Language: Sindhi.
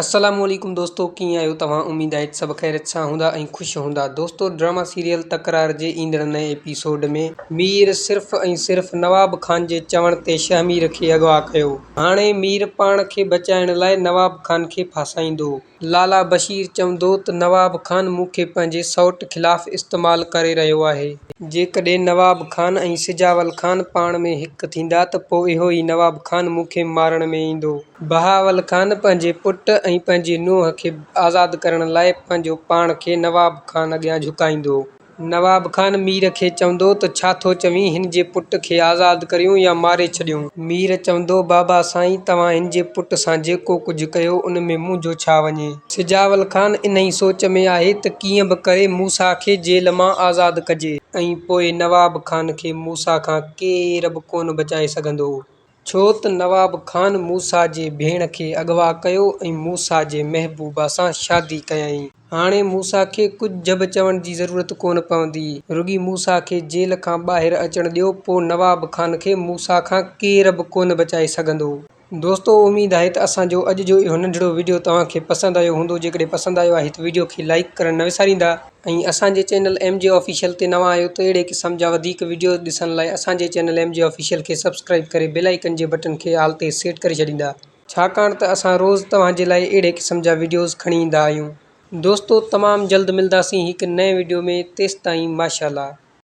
السلام عليڪم دوستو ڪيئن آهيو توهان اميد آهي ته سڀ خيريت سان هوندا ۽ خوش هوندا دوستو ڊراما سيريل تڪرار جي ايندڙ نئين ايپيسوڊ ۾ مير صرف ۽ صرف نواب خان جي چوڻ تي شهمير کي اغوا ڪيو هاڻي مير پاڻ کي بچائڻ لاء نواب خان کي ڦاسائيندو. لالا بشير چوندو ته نواب خان مون کي پنهنجي سئوٽ خلاف استعمال ڪري رهيو آهي. جيڪڏهن نواب خان ۽ سجاول خان پاڻ ۾ هڪ ٿيندا ته پوء اهو ئي نواب خان مون کي مارڻ ۾ ايندو. بهاول خان پنهنجي پٽ ۽ پنهنجي نونهن کي آزاد ڪرڻ لاء پنهنجو پاڻ کي نواب خان اڳيان جهڪائيندو هو. نواب خان مير کي چوندو ته ڇا ٿو چوين هن جي پٽ کي آزاد ڪريون يا ماري ڇڏيون. مير چوندو بابا سائين توهان هن جي پٽ سان جيڪو ڪجهه ڪيو ان ۾ منهنجو ڇا وڃي. سجاول خان انهي سوچ ۾ آهي ته ڪيئن به ڪري موسيٰ کي جيل مان آزاد ڪجي. ۽ پوء نواب خان کي موسيٰ کان ڪير به ڪونه بچائي سگهندو. ڇو ته نواب خان موسيٰ جي ڀيڻ کي اغوا ڪيو ۽ موسيٰ جي محبوبه سان شادي ڪيائين. هاڻي موسيٰ کي ڪجهه به چوڻ جي ضرورت ڪونه پوندي. رڳي موسيٰ کي جيل کان ٻاهر اچڻ ڏيو پوء نواب خان کي موسيٰ کان ڪير به ڪونه بچائي سگهندو. دوستو اميد آهي ته اسان جو اڄ جو اهو ننڍڙو وڊيو توهان کي پسند آيو هوندو جيڪڏهن پسند آيو آهي ته وڊيو کي لائيڪ ڪرڻ نه وساريندا ۽ اسان جي چينل ايم جي آفيشل تي نوان آهيو ته اهڙي قسم جا وڌيڪ وڊيوز ڏسڻ لاء اسان جي چينل ايم جي آفيشل کي سبسڪرائب ڪري بيل آئيڪن جي بٽن کي آل تي سيٽ ڪري ڇڏيندا ڇاڪاڻ ته اسان روز توهان جي لاء اهڙي قسم جا وڊيوز کڻي ايندا آهيون. دوستو تمام جلد ملداسين هڪ نئين وڊيو ۾ تيستائين ماشاءالله.